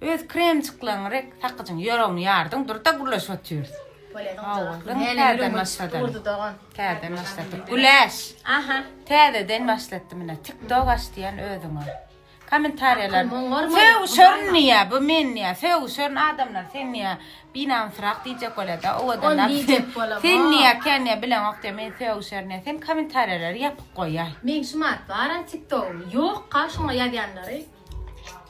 Öz kremçikleň rek sakyjyň ýöregini ýardyň durda gürleşip otyrs. Täzeden başladyk. Täzeden başladyk. Güläş. Aha. Täzeden başladyk mine. TikTok aç diýen özüňe. Kommentariýalar. Söw şörün niýe bu men niýe? Söw şörün adamlar sen niýe? Binam frak diýjek bolada. O adam diýjek bolam. Sen niýe kenne bilen ok diýme. Söw şörün sen kommentariýalary ýapyk goýaý. Men şu mat baran TikTok. Ýok, kaşyňa ýazýanlary.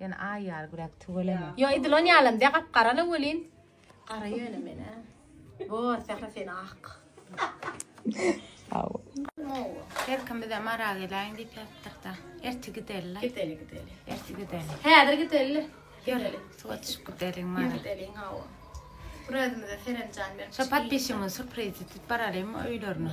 Ýöne aý ýaly güläp tüweleme. Ýo edilen ýalam de gap garala welin. Gara ýöne men a. Bor sähra sen ak. Aw. Her kim bize mara gelaýyn diýip ýatdyr da. Erti gideli. Gideli gideli. Erti gideli. Häzir gideli. Gideli. Suwa düşüp gideli mara. Gideli aw. Bura özümize serenjan berip. Şo patbişimiň surprizi tut baralymy öýlerine.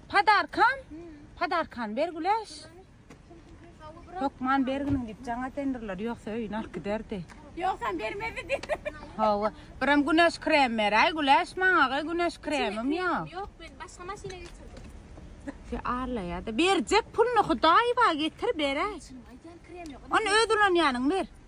Padarkam? Padarkan ber güleş. Hökman berginiň diýip jaň atendirler, ýogsa öýüne alyp giderdi. Ýogsam bermezdi diýip. Hawa, birem güneş krem beräý, güleş maňa, gaý güneş kremim ýok. Ýok, men başga maşyna getirdim. Se arlaýa-da, berjek puluny Hudaýewa getir beräý. Aýdýan krem ýok. Ony öz ulanýanyň ber.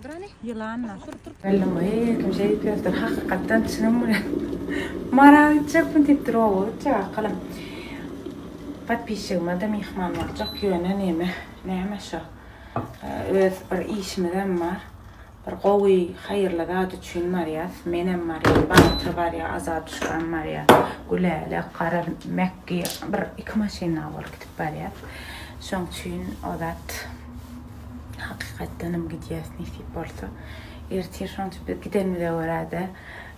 Durany ýylanlar. Malluma eee kim şeýdip ýördir hakykatdan çynym bile Maral gitjekmi diýipdir oba gitjek akylam Podpisçigimede myhman boljak ýöne neme näme şo öz bir işimizem bar bir gowy haýyrly zat üçin barýas menem barýan Batyr barýa Azaduşkam barýa Gülälä gara Mäkgi bir iki maşynda bolup gidip barýas şoň üçin o zat Hakykatdanam gidýäs nesip bolsa. Ertir şonça biz gidenimize görä-de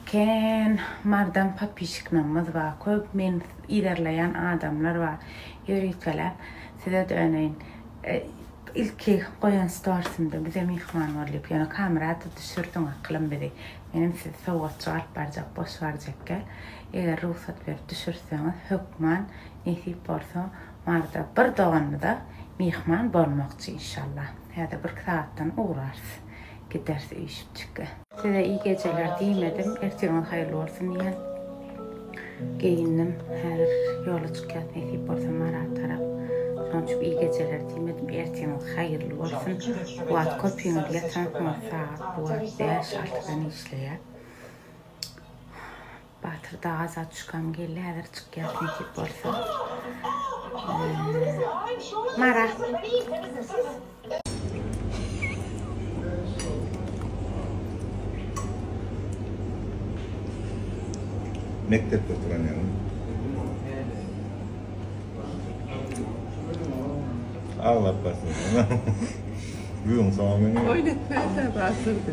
kän mardam popişiknamyz bar. Köp meni yzarlaýan adamlar bar. Ýörütgeläp size döneýin. Ilki goýan storsymda bize myhman bol diýip, ýöne kamerada düşürdiň akylam bizi. Menem sizi sowgatjyk alyp barjak boş barjakka. Eger rugsat berip düşürseňiz hökman nesip bolsa Barda bir doganymyza myhman bolmakçy inşallah. Häzir birki sagatdan ugrarys. Gideris üýşüpjikge. Size iyi geceler diýmedim, ertirňiz haýyrly bolsun diýýän. Geýindim, häzir ýola çykýas nesip bolsa Marata tarap. Şonuň üçin iyi geceler diýmedim, ertirňiz haýyrly bolsun. Bu wagt köpüňiz ýatansyňyz, sagat bu wagt bäş-altydan işleýär. Batyr da aza çykam geldi häzir çykýas nesip bolsa. Mara. Mekdepde oturan ýaly. Aglap başlaýar. Gün soňy. Oýnatmasa basyrdy.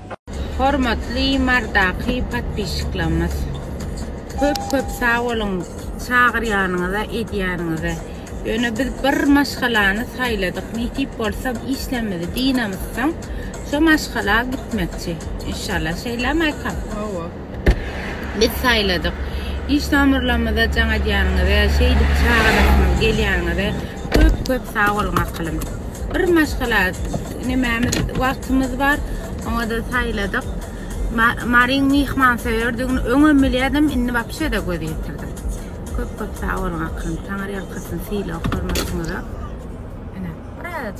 Hormatly Mardaky podpisçiklarymyz köp köp sag boluň çagyrýanyňyza edýäniňize ýöne biz bir maşgalany saýladyk nesip bolsa işlerimizi dynamyzsoň şo maşgala gitmekçi inşallah şeýlemi Aýkam? Hawa. Biz saýladyk. Iş tomurlamyza jaň edýäniňize, şeýdip çagalarymyz gelýäniňize köp köp sag boluň akylym. Bir maşgala nemämiz wagtymyz bar. Oňa-da saýladyk. Maryň myhmansöýerdigini öňem bilýärdim, indi wapşe-de göz ýetirdim. Köp köp sag boluň akylym. Taňyrýalkasyn sylag-hormatyňyza. Ene, biraz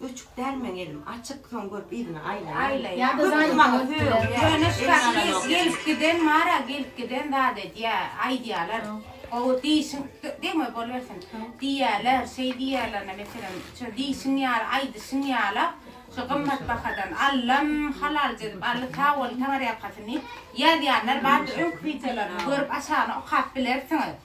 Öçük däl meň elim açyk soň görüp yzyna aýlaýan köpdi maňa söýüň gelip giden bara gelip giden zat edýä aýdýalar gowy diýşiň degme bolubersin diýýäler şeý diýýälerine meselem şo diýşiň ýaly aýdyşyň ýala şo gymmat bahadan allam halalja edip aldy sag boluň taňyrýalkasyn diýip ýazýanlar bardy öňki wideolarymy görüp aşagyna okap bilersiňiz.